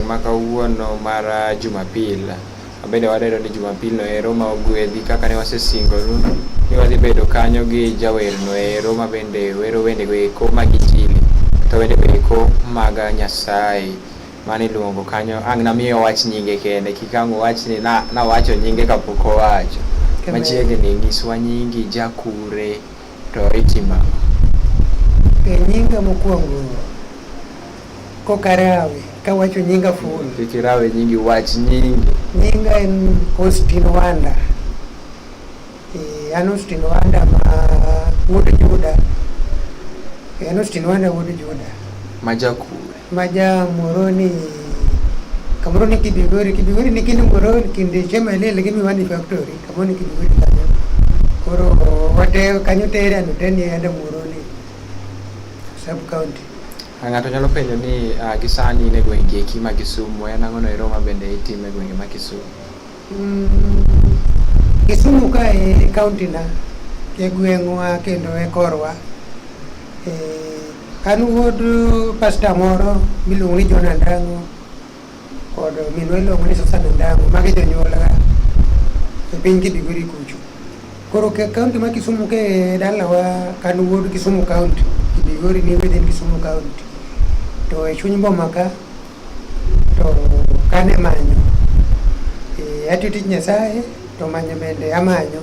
odiechieng' ma kawuono mar ah, Jumapil. Wabende wadendo ni Jumapil no ero ma ogwedhi kaka ne wasesingonu ni wadhi bedo kanyo gi jawer no ero ma bende wero wende go eko mag Injili to wende go eko mag ah, Nyasaye mane iluongo kanyo ang' namiye owach nyinge kende kik ang' owach ni na- nawacho nyinge kapok owacho Kendo- machiegni nyiswa nyingi jakure to itima E nyinga mokwongo Kokarawe kawacho nyinga full. Kik irawe nyingi, wach nyingi. Nyinga en Austin Wanda. Eh, an Austin Wanda ma wuod Juda. Eh, an Austin Wanda wuod Juda. Majakure. Maja Moroni kamoro ni Kibigori, Kibigori ni kini Moroni kinde chema ile lakini wani factory kamoro ni Kibigori kanyo. Koro wate kanyo tere anuteni ende Moroni sub county. Ng'ato nyalo penjo ni uh, gi sani in e gweng' kieki ma Kisumu, en ang'ono ero ma bende itimo e gwenge ma Kisumu? Mm, Kisumu ka e kaunti na, e gweng'wa kendo e korwa. E, an wuod pasta moro miluongo ni John Andango kod minwa iluongo ni Susan Ondango, magi jonyuolga e piny Kidigori kucho. Koro ke kaunti ma Kisumu ke dalawa kan wuod Kisumu kaunti, Kidigori ni within Kisumu kaunti. To e chuny boma ka, to kan e manyo. Eh, atiyo tich Nyasaye, to manyo bende amanyo.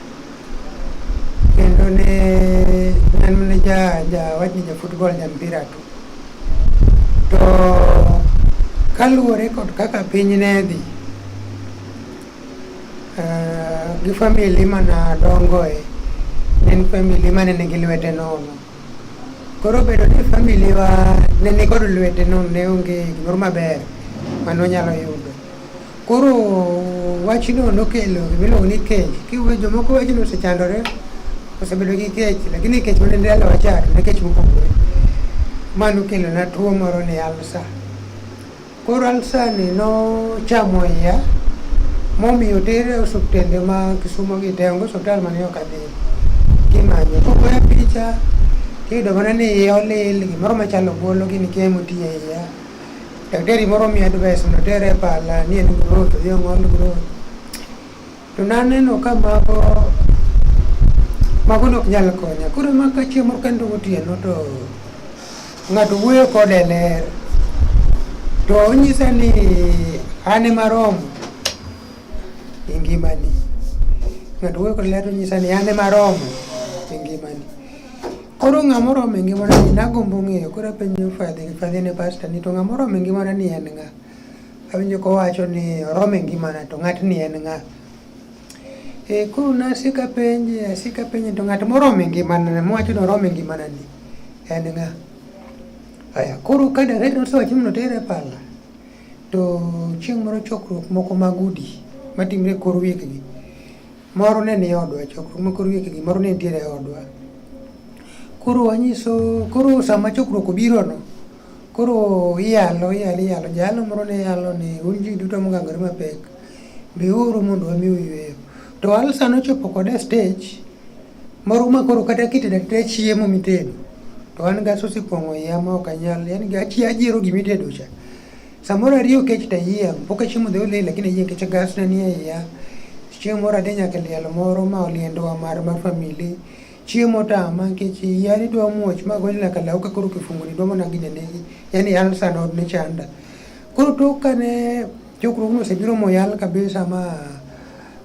kendo ne en ne ja ja wachni ja football ja mpira tu to kaluwore kod kaka piny ne dhi eh, gi famili mana dongoe ne en famili mane nigi lwete nono koro bedo ni famili wa ne nikod lwete nono ne onge gimoro maber mane onyalo yudo Koro wachno nokelo gimiluongo ni kech. Kiwe jomoko wachno osechandore, osebedo gi kech, lakini kech mane ndalo wachar ne kech mopogore. Ma nokelo na tuo moro ni alsa. Koro alsa ni nochamo iya momiyo tere osuptende ma Kisumo gi te, onge osuptal mane ok adhi kimanyo. Kogoya picha tiyudo mana ni iya olil, gimoro machalo ogolo gini kia emotiye iya. Daktari moro miya advice mondo tere e pala ni en growth odhi ong'ol growth. To naneno ka mago mago nok nyal konya. Koro ma ka chieng' moro kendo gotieno to ng'ato wuoyo kode e ler. To onyisa ni an ema romo e ngimani. Ng'ato wuoyo kode e ler to onyisa ni an ema romo e ngimani. Koro ng'ama oromo e ngimana ni nagombo ng'eyo koro apenjo Fadhi, Fadhi ne pasta ni to ng'ama oromo e ngimana ni en ng'a? Awinjo kowacho ni oromo e ngimana to ng'atni en ng'a? E, koro nasiko apenje, asiko apenje to ng'at moromo e ngimana mowacho ni oromo e ngimana ni en ng'a? Aya, koro ka direct nosewacho ni notere pala to chieng' moro chokruok moko mag udi matimre e kor wikgi Moro ne ni odwa e chokruok ma koro wiye moro ne nitiere e odwa. Koro wanyiso koro sama chokruok obirono, koro iyalo iyalo iyalo jalo moro ne yalo ni un ji duto mogangore mapek, biuru mondo wami uyueyo. To Alsa nochopo kode e stage moro ma koro kata kitedo ateda chiemo mitedo to an gas osepong'o iya ma ok anyal, yaani ajiero gimitedo cha. Samoro ariyo kech ta yie, pok achiemo dhi olil lakini yie kech gas na nie iya. Chieng' moro adhi nyaka liel moro ma oliendowa mar mar famili. Chieng' motama nikech iya ni dwa muoch ma gony nyaka law ka koro kifungo ni dwa mana gine negi. Yaani alsa na ne chanda. Koro tok kane chokruogno osebiro moyal kabisa ma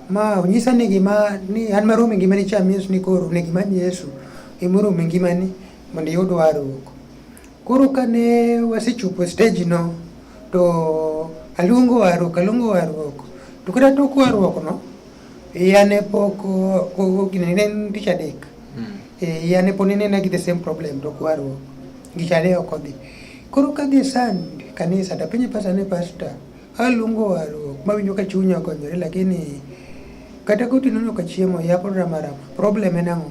ma onyisa ni gima ni an marom e ngimani cha means ni koro ne gima Yesu e morom e ngimani mondo iyud warruok. Koro kane wasechopo e stage no to aluongo warruok aluongo warruok to kata tok warruok no iya ne pok gine ne en tich adek hmm. e, iya ne pod inena gi the same problem tok warruok gik ariyo ok odhi koro ka gi sand kanisa tapenje pasta ne pasta aluongo warruok mawinjo ka chunya okonyore lakini kata kotinono ka chiemo ya program problem en ang'o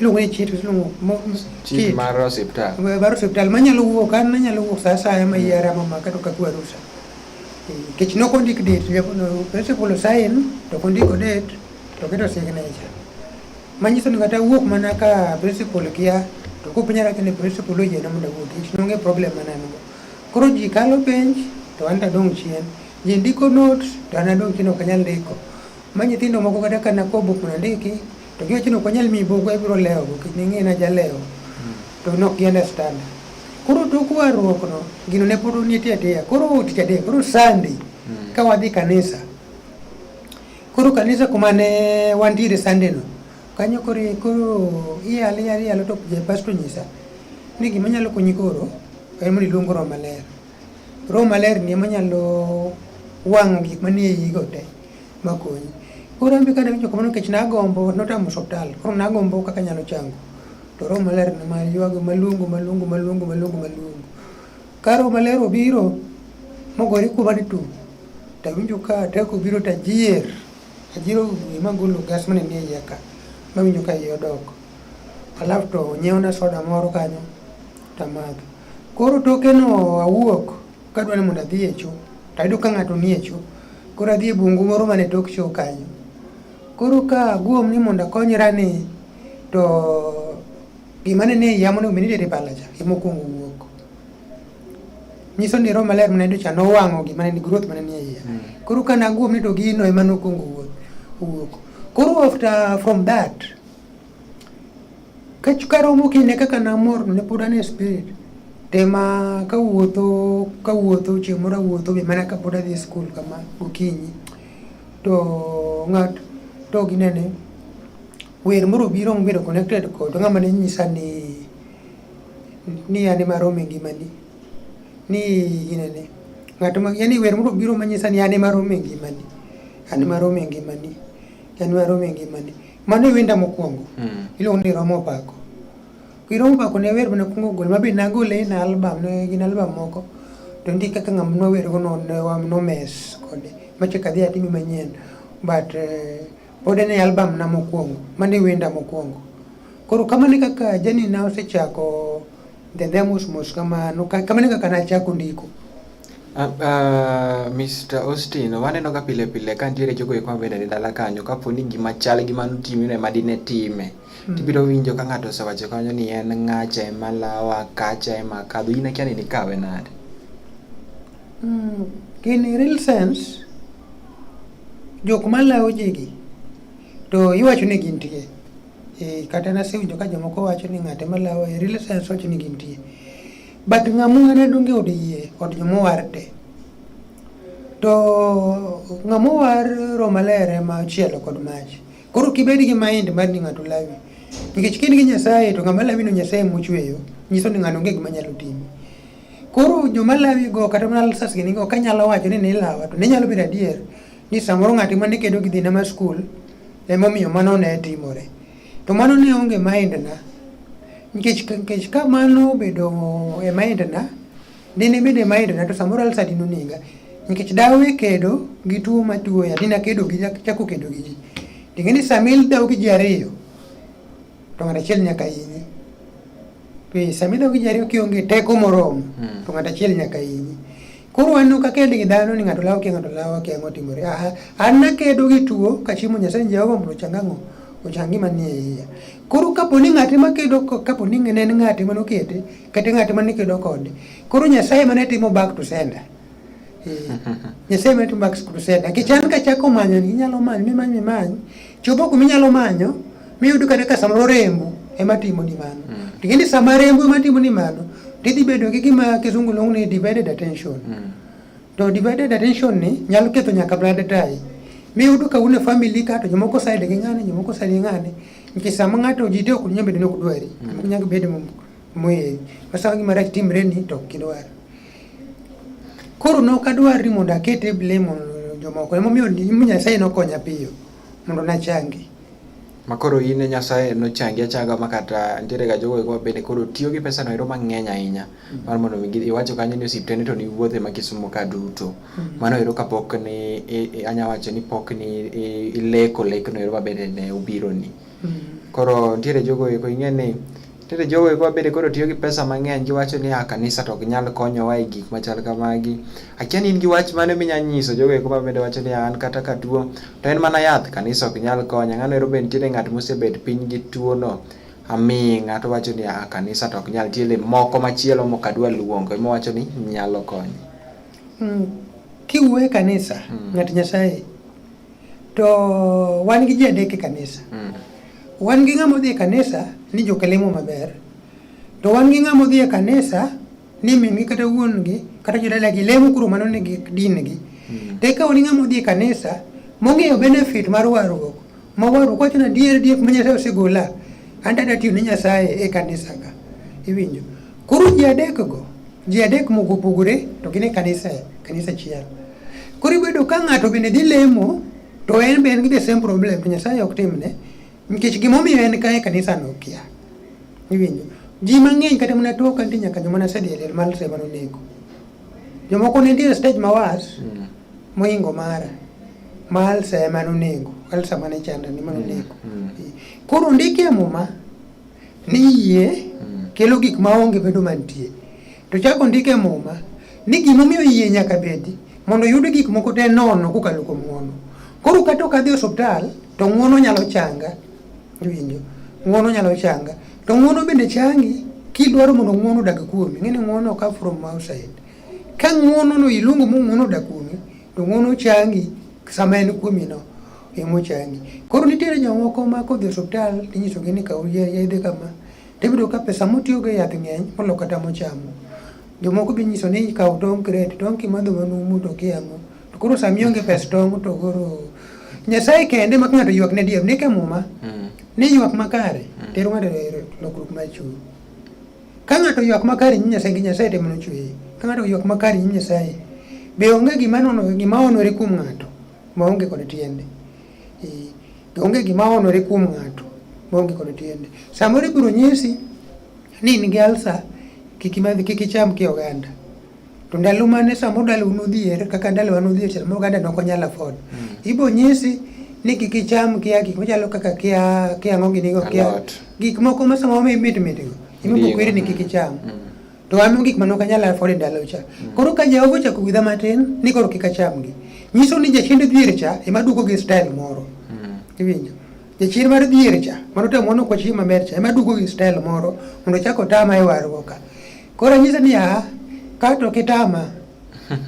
iluongo ni chit iluongo mo- m- chik mar osiptal mar osiptal manyalo wuok an nanyalo wuok sa asaya ma iya rama ma kata ka kwa rusa kech nok ondik date japo no principal sign to ok ondiko date to keto signature manyiso ni kata wuok mana ka principal kia to kupinyara kene principal oyiena mondo awuog kech nonge problem mana an go koro ji kalo penj to an tadong' chien ji ndiko notes to an adong' chien ok anyal ndiko ma nyithindo moko kata ka nakobo kuna ndiki To gi wacho ni ok wanyal miyi buk ibiro lewo go kik ning'e na jalewo. Hmm. To nok gi understand. Koro tok warruok no gino ne pod nitie atiya. Koro tich adek koro Sunday hmm. ka wadhi kanisa. Koro kanisa kuma ne wantiere Sunday no kanyo koro koro iyal iyal iyal to je pastor nyisa ni gima nyalo konyi koro en mondo iluong roho maler. Roho maler ni ema nyalo wang'o gik manie iyigo te. makonyi. Koro an be kane awinjo kamano nikech nagombo notamo osiptal koro nagombo kaka anyalo chango to roho maler ne ma ywago maluongo maluongo maluongo maluongo maluongo ka roho maler obiro mogore kuoma ni tum to awinjo ka teko obiro to ajier ajier wiye magolo gas mane nie iye ka mawinjo ka iye odok alafu to onyiewna soda moro kanyo to amadho koro tokeno awuok Kadwa ni mondo adhi e cho, to ayudo ka ng'ato nie cho. Koro adhi e bungu moro mane tok cho kanyo. Koro ka aguom ni mondo akonyra ni to gima ne nie iya monego bed ni itere pala cha ema okuongo wuok. Nyiso ni Roho Maler mane dhi cha nowang'o gima ne nigi ruoth mane nie iya. Hmm. Koro ka naguom ni to gino ema nokuongo wuok. Koro after from that karomo kinde kaka namor ne pod an e spirit tema kawuotho kawuotho chieng' moro awuotho be mana kapod adhi e skul kama gokinyi to ng'at to ginene wer moro obiro mobedo connected kod ng'ama ne nyisa ni ni an ema rome ngimani ni ginene ng'at ma yani wer moro obiro manyisa ni an ema rome ngimani an ema rome ngimani an ema rome ngimani Mano e wenda mokwongo. Mm. Iluongo ni Romo Pako. Ki Romo Pako ne wer mana kwongo gol mabe nagole na album ne gin album moko. To ndi kaka ng'am no wer go no ne wam no mes kode. Mache kadhi atimi manyien. But eh, pod ne album na mokwongo. Mano e wenda mokwongo. Koro kamane kaka jani na osechako ndendhe mos mos kamano. Kamane kaka nachako ndiko. Uh, uh, Mr. Austin, waneno ka pile pile ka nitiere jogo eko mabedo e dala kanyo kapo ni gima chal gi mano timino ema dine time mm. tibiro winjo ka ng'ato osewacho kanyo ni en ng'acha ema lawa kacha ema kadho in akia ni nikawe nade mm. in real sense jok malawo jigi to iwacho ni gintie e, kata nasewinjo ka jomoko wacho ni ng'ate malawo e real sense wacho ni gintie But ng'amua ne donge od yie od jomowar te. To ng'amowar Roma ler ema ochielo kod mach. Koro kibed gi mind mar ni ng'ato lawi. Nikech kin gi Nyasaye to ng'ama lawi no Nyasaye mochweyo, nyiso ni ng'ano onge gima nyalo timi. Koro joma lawi go kata mana lsas gini go kanyalo wacho ni nilawa to ne nyalo bedo adier ni samoro ng'ati mane kedo gi dhina mar skul emomiyo mano ne timore. To mano ne onge maendna. Nikech nikech ka mano obedo e maendna, dine bedo e maendna to samoro alsa dine onega. Nikech dawe kedo gi tuo matuoya, dine akedo gi chako kedo gi ji. Ting'eni sama ildaw gi ji ariyo, to ng'ato achiel nyaka hinyi. Piny sami dog ji ariyo kionge teko moromo hmm. to ng'ato achiel nyaka inyi. Koro waneno ka kend gi dhano ni ng'ato lawo kia ng'ato lawo kia ang'o timore. Aha, an nakedo gi tuo kachiemo Nyasaye ni Jehova mondo ochang ang'o? Ochang gima nie iya. Koro kapo ni ng'ate ma kedo kapo ni ne en ng'ate mane okete kata ng'ate mane kedo kode. Koro Nyasaye mane timo back to sender. Nyasaye medo Max Crusade. Nikech an ka chako manyo ni inyalo manyo mimany mimany, chopo kuma inyalo manyo, miyud kata ka samoro rembo ema timo ni mano. Mm. Tikindi sama rembo ema timo ni mano, tidhi bedo gi gima kisungu luongo ni divided attention. Mm. To divided attention ni nyalo ketho nyaka blood tie. Miyud ka une family ka to jomoko side gi ng'ane, jomoko side gi ng'ane. Nikech sama ng'ato ji te ok nyambe dino kudwari. Mm. Nyaka bedo moye. Masa gima rach timre ni to kidwaro. Koro ne ok adwar ni mondo aket e blame jomoko. Emomiyo Nyasaye nokonya piyo mondo nachangi. Ma koro in e Nyasaye nochangi achanga ma kata nitiere ga jogo eko bende koro tiyo gi pesa no ero mang'eny ahinya mm. mar mondo mi iwacho kanyo ni osiptende to niwuothe ma Kisumo ka duto. Mm. Mano ero kapok ni anya wacho ni pok ni ileko lekno ero mabende ne obironi. Mm. Koro nitiere jogo eko ing'e ni Tinde jogo eko bende koro tiyo gi pesa mang'eny giwacho ni ah, kanisa to ok nyal konyowa e gik machal kamagi. Akia ni in gi wach mane minya nyiso jogo eko mabende wacho ni ah, an kata ka tuo to en mana yath kanisa ok nyal konya. Ng'ano ero be nitiere ng'at mosebet piny gi tuono aming'a to wacho ni ah, kanisa to ok nyal tiele moko machielo mok adwa luongo ema wacho ni nyalo konyo. Mm, kiwuoye kanisa mm. ng'at Nyasaye To wan gi ji adek e kanisa. Mm. Wan gi ng'ama odhi e kanisa ni jokelemo maber. To wan gi ng'ama odhi e kanisa ni mingi kata wuongi kata jodalagi lemo kuro mano ni gi din gi. Mm. To ikawo ni ng'ama odhi e kanisa mong'eyo benefit mar warruok. Ma warruok wacho na dier dier ma Nyasaye osegola. An tada tiyo ne Nyasaye e kanisa ka. Iwinjo? Koro ji adekgo, ji adek moko opogore to gin e kanisa kanisa achiel. Koro ibedo ka ng'ato bende dhi lemo to en be en gi the same problem to Nyasaye ok timne nikech gimomiyo en kae kanisa no kia. Iwinjo? Ji mang'eny kata mana tok antie nyaka joma nasedhi e liel mar sema nonego. Jomoko ne nitie e stage ma was mm. moingo mara ma alsa ema nonego, alsa mane chanda ni manonego. Mm. Mm. Koro ndike muma Ni yie hmm. kelo gik ma onge bedo mantie. To chako ondik e Muma ni gimomiyo yie nyaka bedi mondo yud gik moko te nono kokalo kuom ng'uono. Koro kata ok adhi osiptal to ng'uono nyalo changa. Iwinjo? Ng'uono nyalo changa. To ng'uono bende changi kidwaro mondo ng'uono odag kuomi. Ng'e ni ng'uono oka from outside. Ka ng'uono no iluongo mo ng'uono odak kuomi to ng'uono changi sama en kuomi no emo changi. Koro nitiere jomoko ma kodhi e osiptal tinyisogi ni kaw yedhe kama tiyudo ka pesa motiyogo e yath ng'eny molo kata mochamo. Jomoko be inyiso ni kaw tong' kret, tong' kimadho manumu to okia ang'o. To koro sama ionge pes tong' to koro Nyasaye kende ma ng'ato ywak ne dier, ndik e muma mm. ni ywak makare mm. tero ng'ato e lokruok mar chuny. Ka ng'ato ywak makare e nyim Nyasaye gi Nyasaye temo nochweye. Ka ng'ato ywak makare e nyim Nyasaye, be onge gima nono gima onore kuom ng'ato ma onge kod tiende. Eh, be onge gima onore kuom ng'ato ma onge kod tiende. Samoro ibiro nyisi ni in gi alsa kik imadh kik icham ki oganda. To ndalo mane sama ndalo nodhier kaka ndalo wa nodhier sama oganda ne ok onyal afford. Mm. Ibo nyisi ni kik icham kia gik machalo kaka kia kia ang'o gini go kia Alot. gik moko ma sama wame mit mit go. Ibo Ndiyo. kweri ni kik icham. Mm. To wame gik mane ok anyal afford e ndalo cha. Koro ka Jehova ochako gwedha matin ni koro kik achamgi. Nyiso ni jachende dhier cha ema duogo gi style moro. Mm. Iwinjo? Jachien mar dhier cha, mano to mono kwa chieng' maber cha, ema duogo gi style moro mondo ochak otama e warruok ka. Koro nyisa ni a kato kitama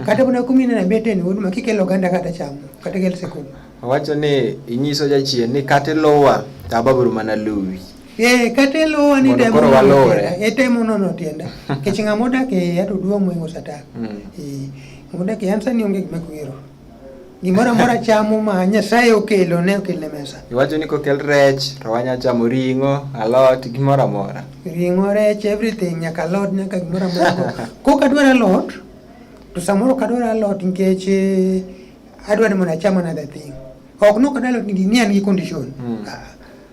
kata mana kumi na bete ni huduma kikelo ganda kata chamo kata kel sekul. Wacho ni inyiso jachien ni kata lowa to ababuru mana luwi. Ee eh, kata lowa ni temo koro walore. E temo nono tienda. Kech ng'ama odak e yato duong' moingo satan. Mm. Ee eh, ng'ama odak e ansa ni onge gima kwero. Gimoro amora chamo ma Nyasaye okelo ne okel ne mesa. Iwacho ni kokel rech to wanya chamo ring'o, alot, gimoro amora. Ring'o, rech, everything nyaka alot nyaka gimoro amora. Kok adwaro alot to samoro ok adwar alot nikech eh, adwaro mondo acham another thing. Ok nok adwar alot ni an gi condition. Mm. Ah,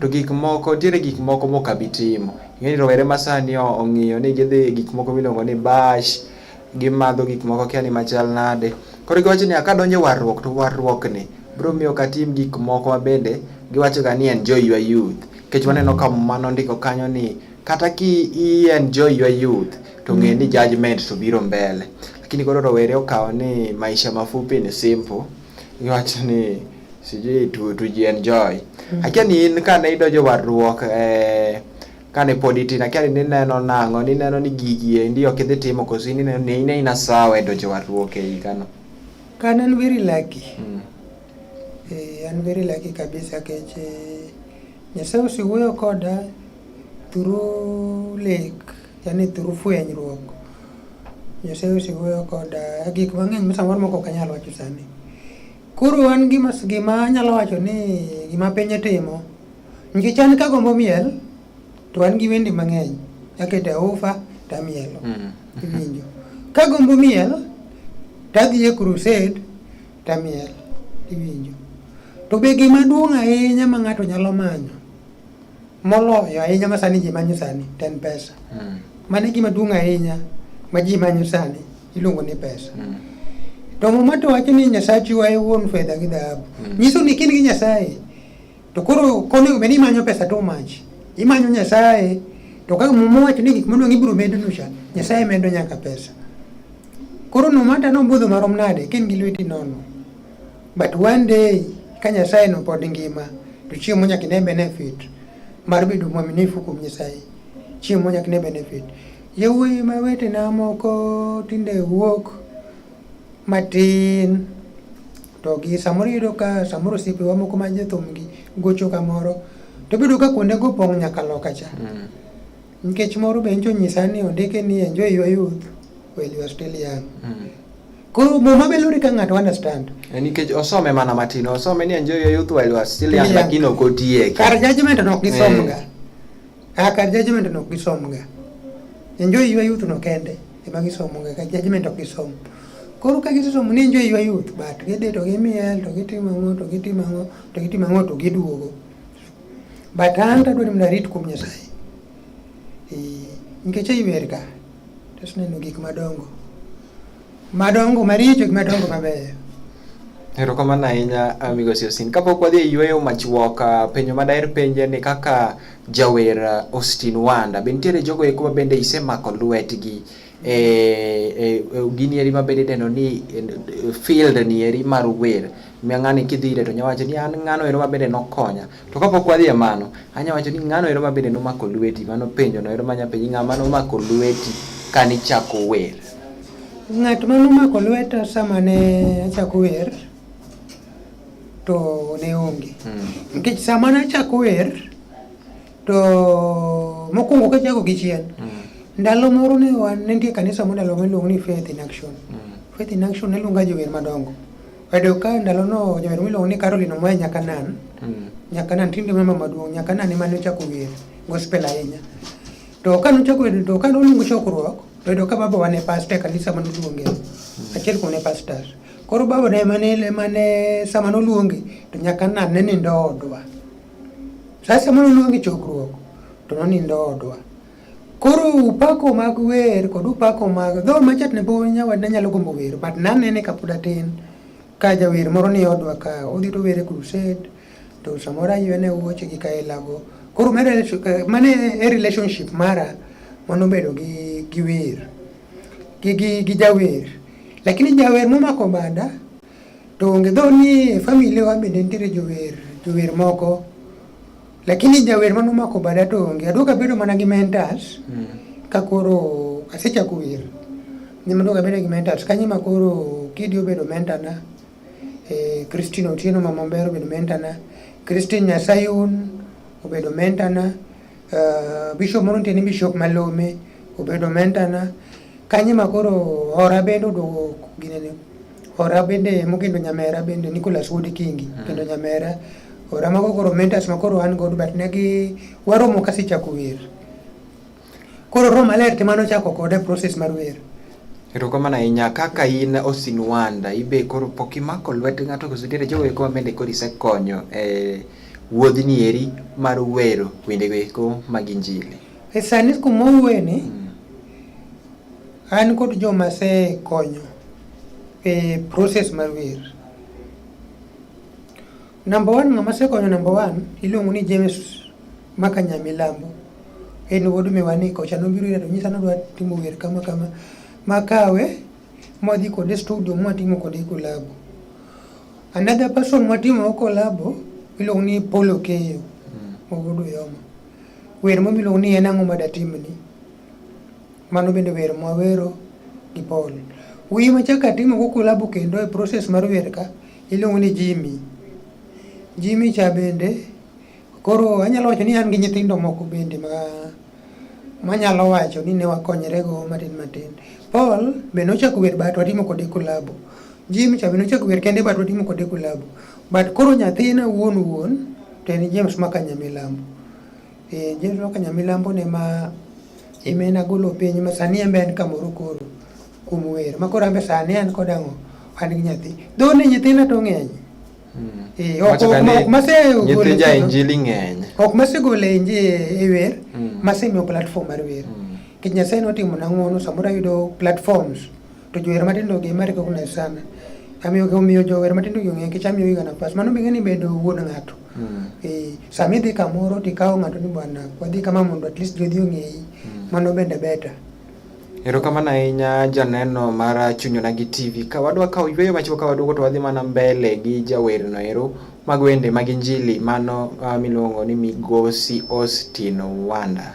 to gik moko nitiere gik moko mok abi timo. Ing'eni rowere ma sani ong'iyo ni gidhi e gik moko miluongo ni bash, gimadho gik moko akia ni machal nade. Koro giwacho niya kadonjo e warruok to warruokni biro miyo ok atim gik moko ma bende giwachoga ni enjoy your youth. Nikech waneno ka Muma nondiko kanyo ni kata ki i enjoy your youth to ng'e ni judgment to biro mbele. Lakini koro rowere okawo ni maisha mafupi ni simple, giwacho ni sijui tu, tujienjoy mm. akia ni in kane idonjo warruok eh, kane pod itin akia ni nineno nang'o nineno ni gigi endi ok idhi timo koso ineno ni ine ina sawa e donjo warruok e higano kan an very lucky mm. eh, an very lucky kabisa kech eh, nyasaye osewuoyo koda through lek yani through fwenyruok nyasaye osewuoyo koda gik mang'eny ma samoro moko ok anyal wacho sani Koro an gima gima anyalo wacho ni gima piny timo nikech an kagombo miel to an gi wende mang'eny akete ufa tamielo mm. iwinjo kagombo miel tadhi e crusade tamiel iwinjo to be gima duong' ahinya ma ng'ato nyalo manyo moloyo ahinya ma sani ji manyo sani ten pesa mm. mane gima duong' ahinya ma ji manyo sani iluongo ni pesa mm. to muma to wacho ni nyasaye chiwa e wuon fedha gi dhahabu mm. nyiso ni kin gi nyasaye to koro konego bed ni imanyo pesa too much imanyo nyasaye to kaka muma wacho ni gik maduong' ibiro medonu cha nyasaye medo nyaka pesa koro no mata nobudho marom nade kin gi lweti nono but one day ka nyasaye no pod ngima to chiemo nyaka ine benefit mar bedo mwaminifu kuom nyasaye chiemo nyaka ine benefit Yawuoyi ma wetena moko tinde wuok matin to gi samoro iyudo ka samoro osiepewa moko ma jothumgi gocho kamoro to bedo ka kuonde go pong' nyaka loka cha mm. nikech moro be ncho nyisa ni ondike ni enjoy your youth while you are still young mm. koro muma be lure ka ng'ato understand eh, nikech osome mana matin osome ni enjoy your youth while you are still young lakini ok otiye kar judgment no ok gisomga eh. Kaka judgment no gisomga. Enjoy your youth no kende ema gisomoga ka judgment ok gisom. Koro ka gisesomo ni enjoy your youth but gidhi to gimiel to gitimo ang'o to gitimo ang'o to gitimo ang'o to giduogo. But an tadwaro ni arit kuom Nyasaye. Nikech ei wer ka, to neno gik madongo. Madongo maricho gi madongo mabeyo. Erokamano ahinya ah, Migosi Osin. Kapok wadhi e yueyo machuok, ah, penjo ma daher penje ni kaka jawer ah, Austin Wanda, be nitiere jogo eko ma bende isemako lwetgi e, e, e gini eri ma bende idendo ni e, field ni eri mar wer. Miya ng'ani kidhi ire to nyawacho ni an ng'ano ero ma bende nokonya. To kapok wadhi e mano, anya wacho ni ng'ano ero ma bende nomako lweti, mano penjo no ero manya penji ng'ama nomako lweti kane ichako wer. Ng'at ma nomako lweta sama ne achako wer to ne onge. Hmm. Nikech sama ne achako wer to mokwongo kachako gi chien, hmm. ndalo moro ne wan ne nitie kanisa moro ndalo miluongo ni Faith in Action. Hmm. Faith in Action ne luonga jower madongo. Oyudo ka ndalono jawer miluongo ni Caroline Omoya Nyakanan. Mm. Nyakanan tinde mama maduong' Nyakanan ema ne ochako wer gospel ahinya. To ka nochako wer to ka noluongo chokruok to oyudo ka babawa ne pastor e kanisa mane oluonge. Mm. Achiel kuom ne pastors. Koro baba ne ema ne ema ne sama noluonge to Nyakanan ne nindo odwa. Sasa sama noluonge chokruok to nonindo odwa. Koro upako mag wer kod upako mag dho machat ne pod nyawad ne nyalo gombo wer but nanene kapod atin ka jawer moro ni odwa ka odhi to were crusade to samoro aywene wuoche gi kaelago koro mane e relationship mara mano bedo gi gi wer gi gi gi jawer lakini jawer momako bada to onge dho ni e family wa bende nitiere jower jower moko Lakini jawer mane omako bada to onge. Aduogo abedo mana gi mentors mm. ka koro asechako wer. Nyima aduogo abedo gi mentors ka nyima koro Kidi obedo mentor na. Eh, Christine Otieno mama Ombero obedo mentor na. Christine Nyasayun obedo mentor na. Uh, Bishop moro nitie ni Bishop Malome obedo mentor na. Ka nyima koro hora bende oduogo ginene. Ora bende mokendo nyamera bende Nicholas Wood Kingi mm. kendo nyamera ora mago koro mentors ma koro an godo but negi waromo kasechako wer koro roho maler tema nochako kode process mar wer erokamano ahinya kaka in osin wanda ibe koro pok imako lwet ng'ato koso nitiere jogo eko mabende koro isekonyo e wuodhni eri mar wero wendego eko mag injili E sani kuma owueni, an kod joma asekonyo e process mar wer. Namba one ng'ama asekonyo namba one iluongo ni James Maka Nyamilambo. En wuod miwani kocha nobiro ira to nyisa ni odwa timo wer kama kama. Makawe mwadhi kode studio mwatimo kode kolabo. Another person mwatimo kolabo iluongo ni Paul Okeyo, mawuod Oyoma. Wer moro miluongo ni en ang'o ma datimni, mano bende wer mwawero gi Paul. Wer machako atimo go kolabo kendo e process mar wer ka iluongo ni Jimmy. Jimmy cha bende koro anyalo wacho ni an gi nyithindo moko bende ma manyalo wacho ni ne wakonyre go matin matin. Paul be nochako wer but watimo kode kolabo. Jimmy cha be nochako wer kende but watimo kode kolabo. But koro nyathina wuon wuon to en James ma Kanyamilambo. Eh, James ma Kanyamilambo ne ma imena golo piny ma sani embe en kamoro koro kuom wer ma koro ambe sani an kod ang'o an gi nyathi. Dho ni nyithina to ng'eny. Hmm. Eh, ok ok masegolo. Nyithi ja injili ng'eny. Ok masegolo inji e wer, hmm. masemiyo platform mar wer. Hmm. Kech Nyasaye notimo na ng'wono samoro ayudo platforms. To jower matindo gi ma recognize sana. Amiyo gi omiyo jower matindo gi ong'e kech amiyo ga nafas. Mano bing'e ni bedo wuon ng'ato. Mm. Eh, sami dhi kamoro to ikawo ng'ato ni bwana wadhi kama mondo at least jodhi ong'eyi. Mm. Mano bende beta. Erokamano ahinya janeno mar Chunyona gi TV. Ka wadwa kawo yweyo machiwo ka waduogo to wadhi mana mbele gi jawerno ero mag wende mag Injili mano uh, miluongo ni Migosi Austin Wanda.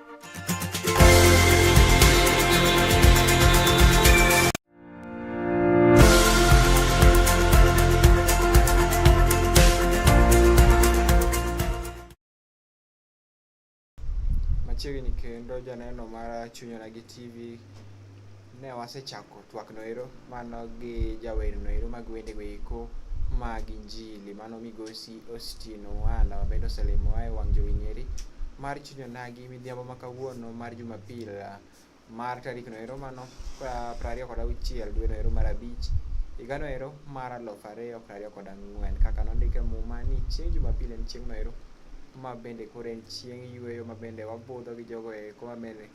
machiegni kendo janeno mar Chunyona gi TV Ne wasechako twak noero mano gi jawer noero mag wende goeko mag injili mano migosi Austin Wana wabende oselimo ae wang' jowi nyeri mar chunyo nagi midhiambo ma kawuono mar Jumapil mar tarik noero mano prariyo kod auchiel dwe noero mar abich higa noero mar aluf ariyo prariyo kod ang'wen kaka nondike muma ni chieng' Jumapil en chieng' noero ma bende koro en chieng' yueyo ma bende wabudho gi jogo eko ma bende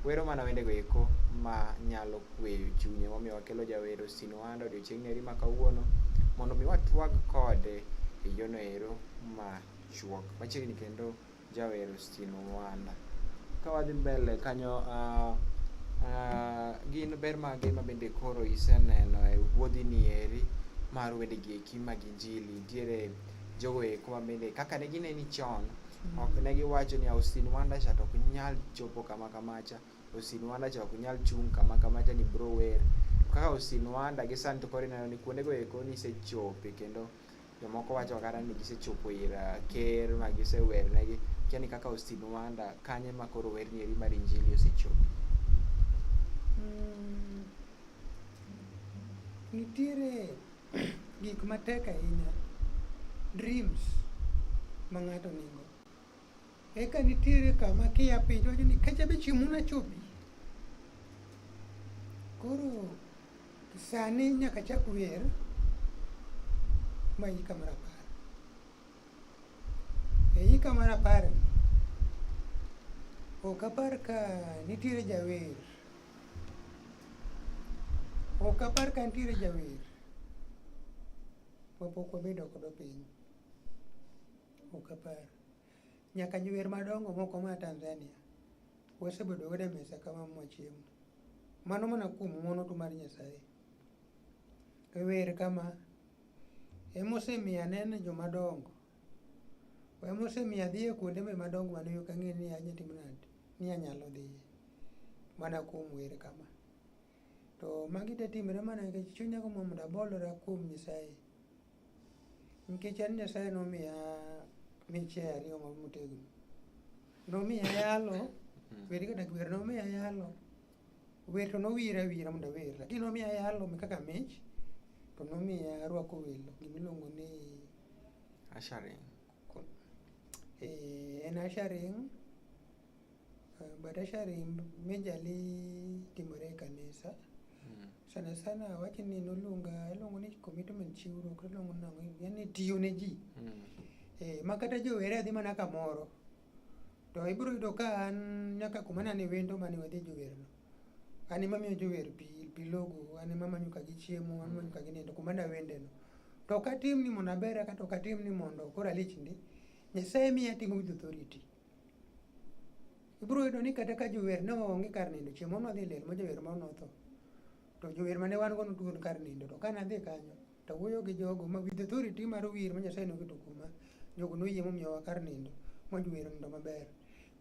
wero mana wendego eko ma nyalo kweyo chunye momiyo wakelo jawero sinwando odiochieng' neri ma kawuono mondo mi watwag kode e yono ero ma chuok machiegni kendo jawero sinwanda ka wadhi mbele kanyo uh, uh, gin ber mage ma bende koro iseneno e wuodhi ni eri mar wendegi eki mag injili nitiere jogo eko ma bende kaka ne gineni chon mm. ok ne giwacho ni Austin Wanda cha to ok nyal chopo kama kamacha Austin Wanda cha ok nyal chung' kama kamacha ni bro wer kaka Austin Wanda gi Santo koro ineno ni kuondego eko nisechope kendo jomoko wacho kata ni gisechopo ir uh, ker ma gisewernegi kia ni kaka Austin Wanda kanye ma koro werni eri mar injili osechope mm. nitiere Gik matek ahinya, dreams ma ng'ato nigo. Eka nitiere kama kia piny wacho ni kacha be chieng' muna chopi. Koro sani nyaka chak wer ma yika mar apar. E yika mar apar ni, ok apar ka nitiere jawer Ok apar ka nitiere jawer mapok wabedo kodo piny. Ok apar. Nyaka jower madongo moko ma Tanzania wasebedo godo e mesa ka wamo chiemo. Mano mana kuom ng'wono tu mar Nyasaye. E wer kama, Emosemiyo aneno jomadongo Oya mosemiya dhiye kuonde me madongo mane ok ang'e ni anya timo nade, ni anyalo dhiye. Mana kuom wer kama. To magi te timre mana nikech chunya gombo mondo abolora kuom Nyasaye. Nikech an Nyasaye nomiya miche ariyo ma motegno. Nomiya yalo, wer kata wer nomiya yalo. Wer to nowira awira mondo awer, lakini nomiya yalo kaka mich to nomiya rwako welo gimiluongo ni ushering. Eh, en ushering eh, but ushering majorly timore e kanisa hmm. sana sana wacho ni noluonga iluongo ni commitment chiwruok iluongo nango yani tiyo ne ji hmm. eh, ma kata jowere adhi mana kamoro To ibiro yudo ka an nyaka kuma nane wendo mane wadhi jowerno. An ema miyo jower pi, pi logo, an ema manyo ka gichiemo, an manyo ka ginindo kuma nawendeno. To ok atim ni mondo abera kata ok atim ni mondo koro alich ndi. Nyasaye miya atimo with authority. Ibiro yudo ni kata ka jower ne onge kar nindo, chieng' moro nwadhi e liel ma jower moro notho. To jower mane wan go notuon kar nindo, to ka nadhi kanyo, to wuoyo gi jogo ma with authority mar wir ma Nyasaye noketo kuoma jogo noyie momiyowa kar nindo mojuwero nindo maber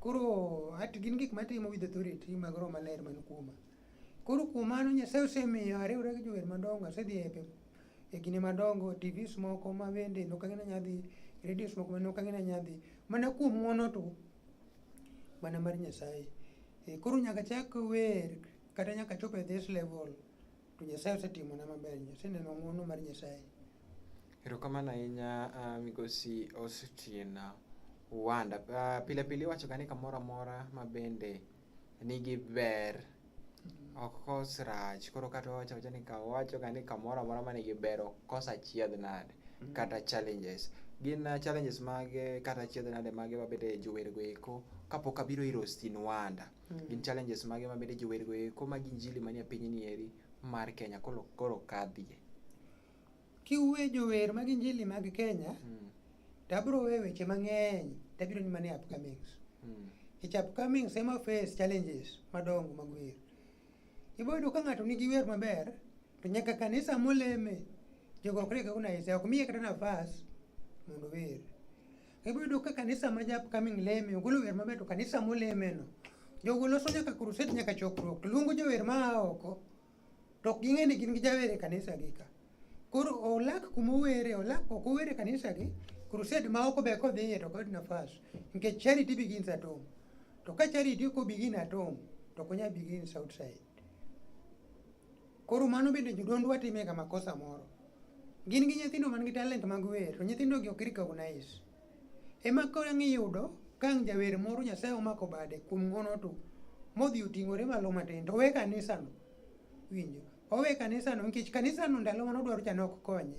koro at gin gik matimo with authority mag roho maler man kuoma koro kuom mano Nyasaye osemiyo ariwra gi jower madongo asedhi e pe- e kinde madongo tvs moko ma bende nok ang'e ni anya dhi radios moko ma nok ang'e ni anya dhi mana kuom ng'wono to mana mar Nyasaye Eh, koro nyaka chak wer kata nyaka chop e this level to Nyasaye osetimona maber, aseneno ng'wono mar Nyasaye. Erokamano ahinya ah, migosi Austin Wanda. Ah, Pile pile iwachoga ni kamoro amora ma bende nigi ber ok kos rach. Koro kata wawacho awacha ni ka wawachoga ni kamoro amora ma nigi ber ok kos achiedh nade kata challenges. Gin ah, challenges mage kata achiedh nade mage ma bende jowergo eko kapok abiro ir Austin Wanda mm. gin challenges mage ma bende jower go eko mag injili manie piny ni eri mar Kenya koro koro kadhie kiwe jower mag injili mag Kenya mm. tabro we weche mang'eny tabiro ni mane upcomings mm. ich upcomings ema face challenges madongo mag wer iboyudo ka ng'ato nigi wer maber to nyaka kanisa moleme jogo ok rega kuna isa ok miye kata nafas mondo wer Ibiro ka kanisa ma ja upcoming leme ogolo wer maber to kanisa molemeno jogo loso nyaka crusade nyaka chokruok to luongo jower ma a oko to ok ging'e ni gin gi jawer e kanisa gi ka koro olak kuma owere olak ok owere e kanisa gi crusade ma oko be kodhiye to kod nafas nikech charity begins at home to ka charity ok obigin at home to ok onyal begins outside Koro mano bende jodondwa time ga makosa moro. Gin gi nyithindo man gi talent mag wer, to nyithindo gi ok recognize. Ema koro ang' iyudo ka ang' jawer moro Nyasaye omako bade kuom ng'wono to modhi oting'ore malo matin to owe kanisano. Winjo? Owe kanisano nikech kanisano ndalo mane odwaro cha ne ok konye.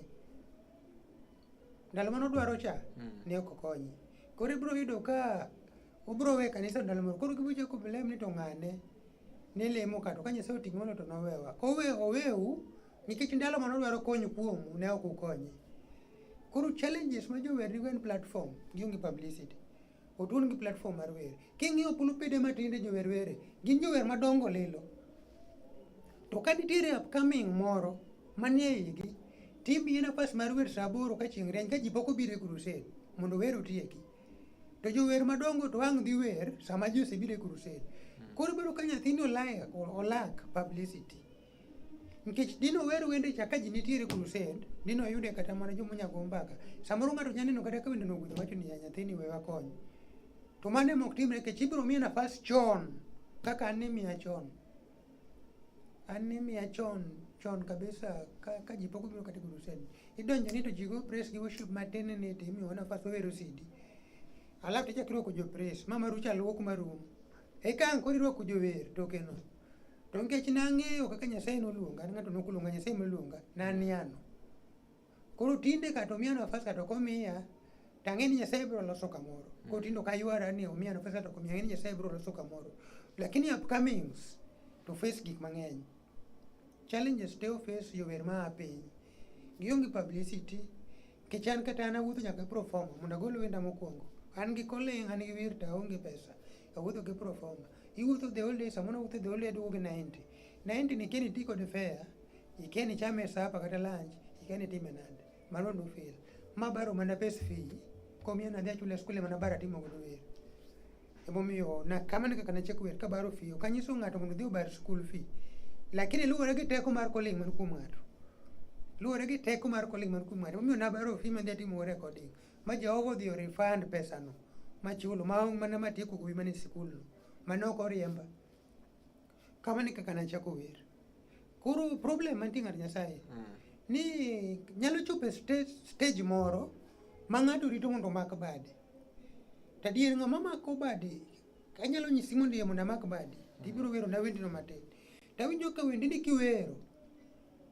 Ndalo mane odwaro cha ne ok konye. Koro ibiro yudo ka obiro we kanisa ndalo moro. Koro gibiro chako blame ni to ng'ane. ne lemo ka to ka Nyasaye oting'o no to nowewa. Kowe oweu nikech ndalo mane odwaro kony kuomu ne ok ukonye. Koro challenges ma jower nigo en platform gionge publicity. Otuon gi platform mar wer. King'iyo pulupede matinde jower were, gin jower madongo lilo. To ka nitiere upcoming moro manie igi, timbi nafas mar wer saa aboro ka chieng' rieny ka ji pok obiro e crusade mondo wer otieki. to jower madongo to ang' dhi wer sama ji osebiro e crusade hmm. koro bedo ka nyathini olak publicity nikech dino wer wende cha ka ji nitiere crusade dino yude kata mana joma nyago mbaka samoro ng'ato nya neno kata ka wendeno ogudho wacho ni nyathini we wakony to mano ema ok timre nikech ibiro miye nafas chon kaka an nimiya chon anemia chon chon kabisa ka, ka ji pok obiro kata e crusade idonjo ni to ji go praise gi worship matin ni to imiyo nafas wawero sidi alafu tichak irwako jo praise ma marucho aluok marum eka ang' koro irwako jower tokeno to nikech nang'eyo kaka nyasaye noluonga an ng'ato nokoluonga nyasaye noluonga naniano Koro tinde kata omiya nafas kata okomiya to ang'e ni Nyasaye biro loso kamoro. Mm. Koro tinde ok aywara ni omiya nafas kata okomiya, ang'e ni Nyasaye biro loso kamoro. Lakini upcomings to face gik mang'eny. Challenges te ofes jower ma a piny. Gionge publicity, nikech an kata an awuotho nyaka proforma mondo agol wenda mokwongo. An gi koling', an gi wir to aonge pesa, awuotho gi proforma. Iwuotho the whole day, samoro awuotho the whole day aduogo gi 90. 90 ni kendo iti kode fair, Ikeni chame sapa kata lunch, ikeni time nade? Mano do feel. Ma baro mana pes fee. Komi na dia chule skule mana bara timo godo wer. Emo miyo na kama ni kaka na check wer ka baro fee. Kanyiso ng'ato mondo dhi obar school fee. Lakini luwore gi teko mar calling man kuom ng'ato. Luwore gi teko mar calling man kuom ng'ato. Omiyo na baro fee ma dia timo recording. Ma Jehova odhi refund pesa no. Ma chulo ma mana matieko kuwi mana e sikul no. Mano ok oriemba. kamano kaka nachako wer koro problem mantie ng'at nyasaye mm. ni nyalo chopo e stage, stage moro ma ng'ato rito mondo omak bade to adier ng'ama mako bade anyalo nyisi mondo iye mondo amak bade mm. tibiro wero na wendino matin tawinjo ka wendini kiwero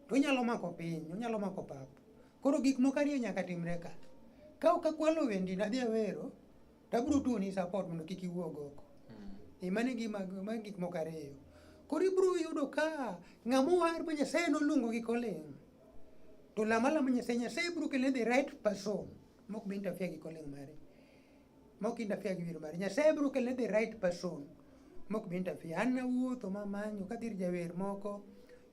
to onyalo mako piny onyalo mako pap koro gik moko ariyo nyaka timre ka ka ok akwalo wendino adhi awero to abiro tuoni support mondo kik iwuog oko hmm. mano e gima ma gik moko ariyo koro ibiro yudo ka ng'ama owar ma nyasaye noluongo gi koling to lama lama nyasaye nyasaye biro kele the right person mok bi interfere gi koling mare mok interfere gi wir mare nyasaye biro kele the right person mok bi interfere an nawuotho mamanyo kadhi ir jawer moko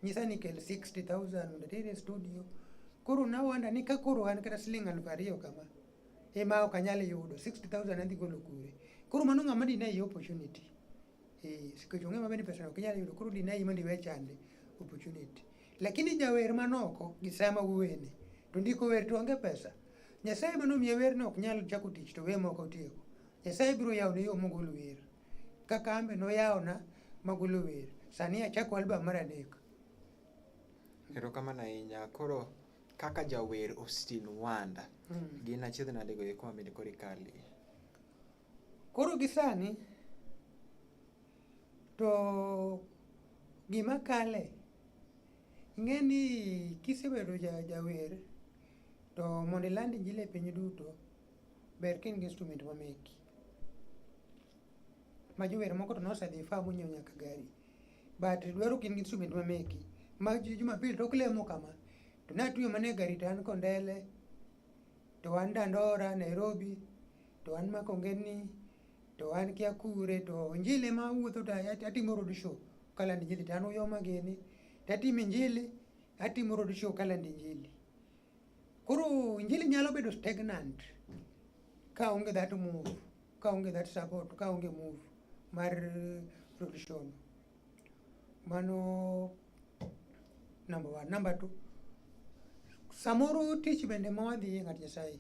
nyisa ni kel 60000 mondo atere studio koro nawanda ni ka koro an kata siling' aluf ariyo kama ema ok anyal yudo 60000 adhi golo kure koro mano ng'ama dine yi opportunity eh sikech ong'e maber ni pesa ok inyal yudo koro dine yi mondo iwe chande opportunity lakini jawer manoko gi sama wuwene to ndiko wer to onge pesa nyasaye manomiye werno ok nyal chako tich to we moko tieko nyasaye biro yawone yo mogolo wer kaka ambe noyawona magolo wer sani achako album mar adek erokamano ahinya koro kaka jawer Austin Wanda mm. gin achiedh nade go eko mamede koro ikali koro gi sani to gima kale ing'e ni kisebedo jawer to mondo iland injili e piny duto ber ka in gi instrument mameki ma jower moko to nosedhi fa monyiewo nyaka gari But dwaro gin gi instrument ma meki. Ma Jumapil tok lemo kama. To natuyo mana e gari to an Kondele, to an Dandora, Nairobi, to an Makongeni, to an Kiakure, to injili ema awuotho to at- atimo road show kalando injili to an uyoma gini. To atimo injili, atimo road show kalando injili. Koro injili nyalo bedo stagnant ka onge that move. kaonge that support kaonge move mar production mano number one number two samoro tich bende ma wadhi e ng'at nyasaye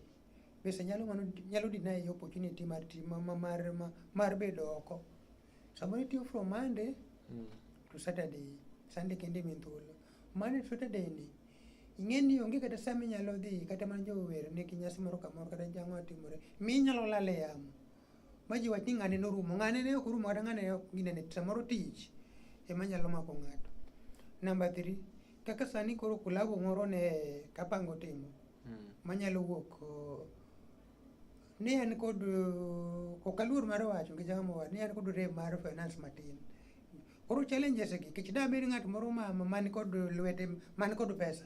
bese nyalo mano nyalo deny opportunity mar ti- ma- ma- mar ma- mar bedo oko Samoro itiyo from Monday mm. to Saturday, Sunday kende min thuolo. Monday to Saturday ni ing'e ni onge kata sama inyalo dhi kata mana jower ne kinyasi moro kamoro kata jang'o timore mi inyalo lal e yamo ma ji wach ni ng'ane norumo ng'ane ne ok orumo kata ng'ane ne ok ginene samoro tich ema nyalo mako ng'ato namba three kaka sani koro kulabu moro ne kapango timo mm. manyalo wuok ni an kod uh, ok aluor mar wacho gi jama mowar ni an kod rem mar finance matin koro challenges gi kech da bed ng'at moro ma man kod lwete man kod pesa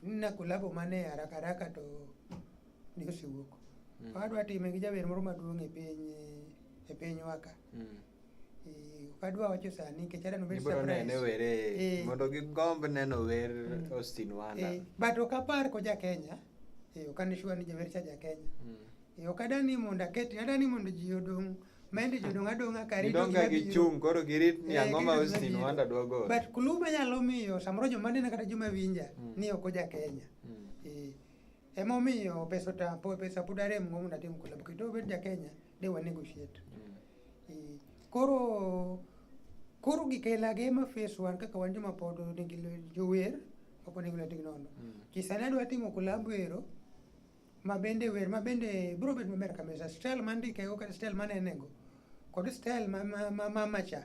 na kolabo mane haraka haraka to ni osewuok mm. adwa time gi jaber moro maduong' e piny e piny waka mm. kadwa wacho sani nikech aneno bet surprise were eh. mondo gigomb neno wer mm. Austin Wanda eh, but ok apar ko ja Kenya eh, ok ane sure ni jawer cha ja Kenya mm. eh, ok adani mondo aketi adani mondo ji odong' mende jodong' adong'a ka rito gima biro. gichung' koro girit ni eh, ang'o ma Austin Wanda dwa golo. But clue manyalo miyo samoro joma nena kata joma winja mm. ni ok oja Kenya. Mm. Eh, Emomiyo pesa otapo pesa pod arem go mondo atim collab kendo obed ja Kenya de wa negotiate. Eh, Koro koro gik aila ge ma face wan kaka wan joma pod nigi lwe- jower ok onego lwetgi nono. Kisani adwa timo collab ero ma bende wer ma bende bro bet maber kabisa style mandikego kata style manenego kod style ma ma ma, ma macha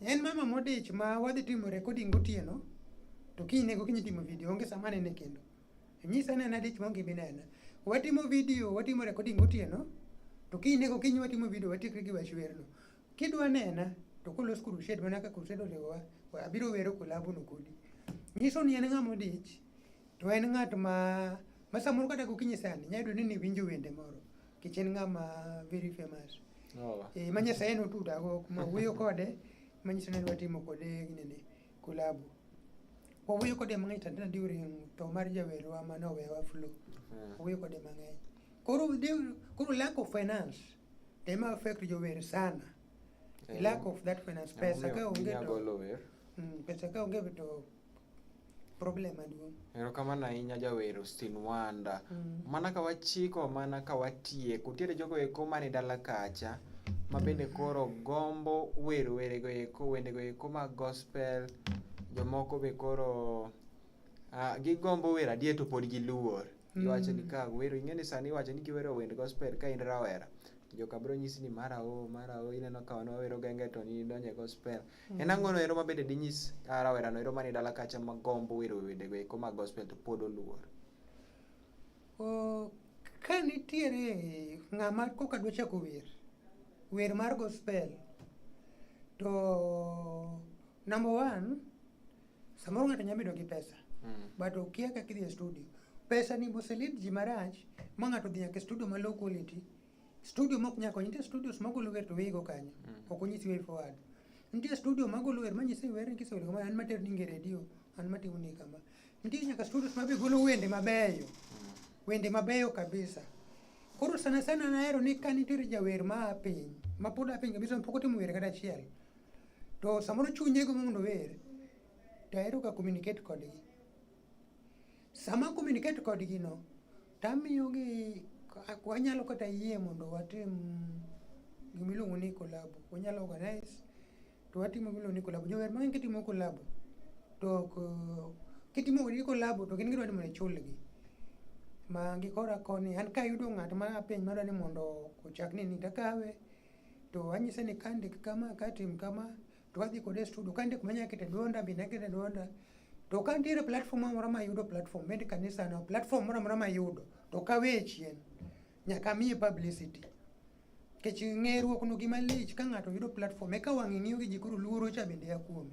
En mama modich ma wadhi timo recording gotieno to kiny nego kiny timo video onge sama nene kendo. Nyisa ne na dich monge binena. Watimo video, watimo recording gotieno to kiny nego kiny watimo video watikre gi wachwerno. Kidwa nena to kolos crusade mana ka crusade oriwowa abiro wero kolabu no kodi. Nyiso ni en ng'ama odich to en ng'at ma ma samoro kata gokinyi sani nyayudo ni niwinjo wende moro Nikech en ng'ama very famous. Oh. Eh, ma Nyasaye notuda go kuma wuoyo kode manyiso ni adwa timo kode nini kulabu. Wawuoyo kode mang'eny tandana during to mar jawerwa ma nowewa flu. Mm. Wawuoyo kode mang'eny. Koro during- koro lack of finance ema affect jower sana. Eh, Lack of that finance pesa ka onge Ginya to golo wer. Mm, pesa ka onge to problem maduong'. Erokamano ahinya jawer Austin Wanda. Mm. Mana ka wachiko mana ka watieko. Nitiere jogo eko mane dala kacha ma bende koro gombo wer werego eko wendego eko mag gospel jomoko be koro uh, gigombo wer adier to pod giluor mm. iwacho ni ka wero ing'e ni sani iwacho ni kiwero wend gospel ka in rawera joka biro nyisi ni mara o mara o ineno ka wan wawero gengeton idonje gospel En mm. ang'ono ero mabende dinyis ah, rawerano ero mani dala kacha magombo wero wedego eko mag gospel to pod oluor? Ka nitiere ng'ama koka dwa chako wer, wer mar gospel to number one samoro ng'ato nyalo bedo gi pesa mm. but okia kaka idhi e studio. Pesa ni moselid ji marach ma ng'ato odhi nyaka e studio ma low quality Studio mok nyako konyi, nitie studios magolo wer to weyigo kanyo. Mm. Ok onyisi way forward. Nitie studio magolo wer manyisi wer ni kisewero kama an mater ninge redio, an matimo ni kama. Nitie nyaka studios mabe golo wende mabeyo. Mm. Wende mabeyo kabisa. Koro sana sana nahero ni ka nitiere jawer ma a piny, ma pod a piny kabisa ma pok otimo wer kata achiel. To samoro chunye go mondo wer, to ahero ka communicate kodgi. Sama communicate kodgi no, Tamiyogi wanyalo kata yie mondo watim gima iluongo ni kolabo. Wanyalo organize to watimo gima iluongo ni kolabo. Jower mang'eny kitimo kolabo to ok kitimo gi kolabo to gin gidwa ni mondo ichulgi. Ma gi kora koni an kayudo ng'at ma apeny madwa ni mondo ochak ni ni takawe to anyise ni kandik kama katim kama to wadhi kode e studio ka ndik manya kete duonda bi na kete duonda to ka nitiere platform moro ma yudo platform med kanisa no platform moro moro ma yudo to ka we chien nyaka miye publicity kech ng'eruok no gima lich ka ng'ato yudo platform eka wang'e ng'iyo gi ji koro luoro cha bende ya kuome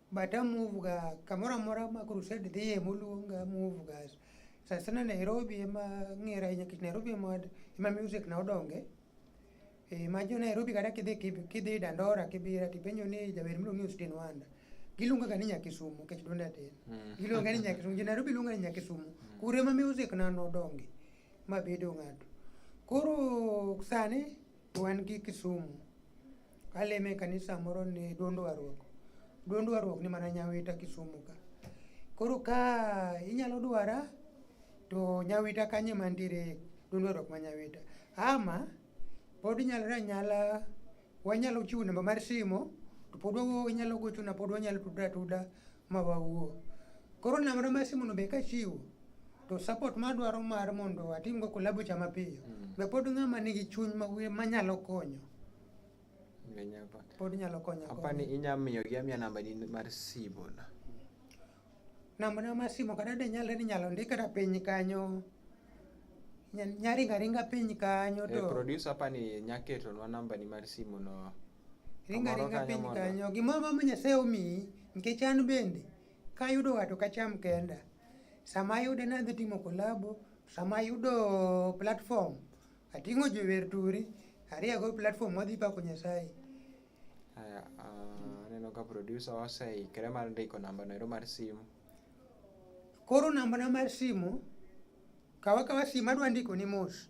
bata muvuga kamora mora ma crusade dhiye moluonga muvuga sasana nairobi ema ng'era ahinya kech nairobi ema ema music na odonge e, ma jo nairobi kata kidhi kidhi dandora kibira tipenjo ni jawer miluongo ni austin wanda giluongaga ni nyakisumu kech donde atin hmm. giluonga ni nyakisumu jo nairobi luonga ni nyakisumu hmm. kuro ema music na nodonge ma bedo ng'ato koro sani Wan gi Kisumu. Kaleme e kanisa moro ni duond warruok. Duond warruok ni mana Nyawita Kisumu ka. Koro ka inyalo dwara to Nyawita kanye mantiere duond warruok ma Nyawita. Ama pod nyalore anyala wanyalo chiwo namba mar simo to pod inyalo gochona pod wanyalo tudra atuda. ma wawuo. Koro namba ma simu no be kachiwo to support ma adwaro mar mondo atimgo kolabo cha mapiyo mm. be pod ng'ama nigi chuny manyalo konyo pod nyalo konyo apani inya miyo gi amia namba ni mar simu na namba na mar simu kata de nyalre ni nyalo ndika ra piny kanyo nyaringa ringa piny kanyo eh, to e, producer apani nyaketo nwa namba ni mar simu no Ringa ringa piny kanyo, gimoro ma Nyasaye omiyi, nikech an bende kayudo wato kacham kenda. Sama ayude nadhi timo kolabo, sama ayudo platform, ating'o jower turi, ariyago platform wadhi pako Nyasaye. Aya, ah, aneno ka producer oseikre mar ndiko namba noero mar simu. Koro namba na mar simu, kawa kawa simu adwa ndiko ni mos.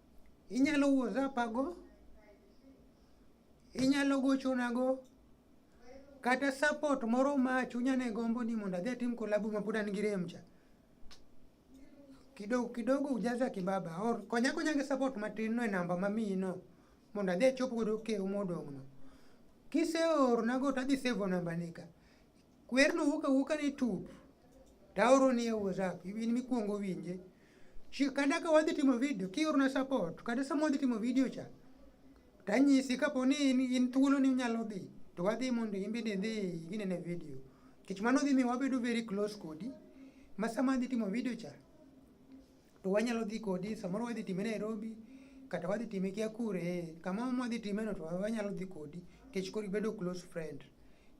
Inyalo whatsapago, inyalo gochonago, kata support moro ma chunya ne gombo ni mondo adhi atim collabo ma pod an gi rem cha. Kidogo kidogo ujaza kibaba or konya konya gi support matin no e namba mamiyi no mondo adhi achop godo kew modong' no. Kiseornago to adhi save namba ni ka. Kwerno wuok awuoka ni tup. Taoro ni e WhatsApp, in mikwongo winje. Kanda ka wadhi timo video, kiorona support, kata sama wadhi timo video cha, tanyisi kapo ni in, in thuolo ni unyalo dhi, to wadhi mondo in bende idhi inene video. Kech mano dhi miyo wabedo very close kodi, ma sama adhi timo video cha, to wanyalo dhi kodi samoro wadhi time Nairobi kata wadhi time kia kure eh, kama mwadhi time no to wanyalo dhi kodi kech kori bedo close friend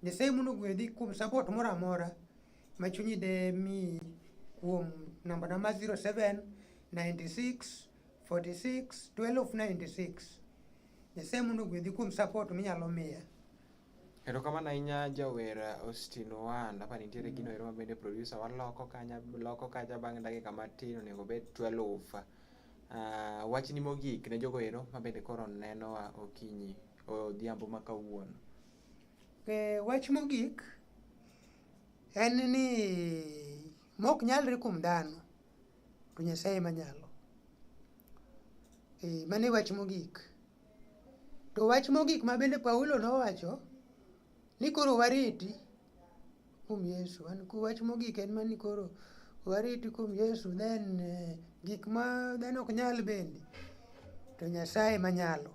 Nyasaye mondo gwedhi kuom support moro amora ma chunyi de mi kuom namba namba 07 96 46 12 96 Nyasaye mondo gwedhi kuom support minyalo miya Erokamano ahinya jawer Austin Ohand. Apa nitiere gino ero mabende producer waloko kanya loko kacha bang' dakika matin onego obed 12. Uh, ah, wachni mogik ne jogo ero mabende koro nenowa okinyi odhiambo ma kawuono. E, wach mogik en ni mok nyalre kuom dhano to Nyasaye manyalo. E, mane wach mogik. To wach mogik ma bende Paulo nowacho ni koro wariti kuom Yesu. An wach mogik en mani koro wariti kuom Yesu then eh, gik ma dhano ok nyal bende to Nyasaye ma nyalo.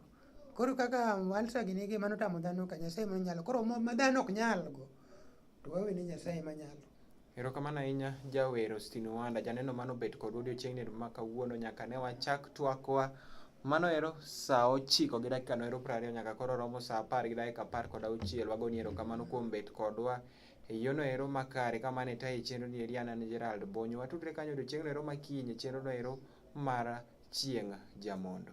Koro kaka walsa gini gi mano tamo dhano ka Nyasaye ma nyalo. Koro ma dhano ok nyalgo to wawene Nyasaye ma nyalo. Erokamano ahinya jawer Ostino Wanda, janeno mano bet kod odiochieng'ni ma kawuono nyaka ne wachak twakwa. Mano ero saa ochiko gi dakika noero prariyo nyaka koro romo saa apar gi dakika apar kod auchiel. Wagoni erokamano kuom bet kodwa e yono ero makare ka mane taye chenro ni eri an an Gerald Bonyo. Watudre kanyo odiochieng'no ero makinyi chenro no ero mar chieng' jamondo.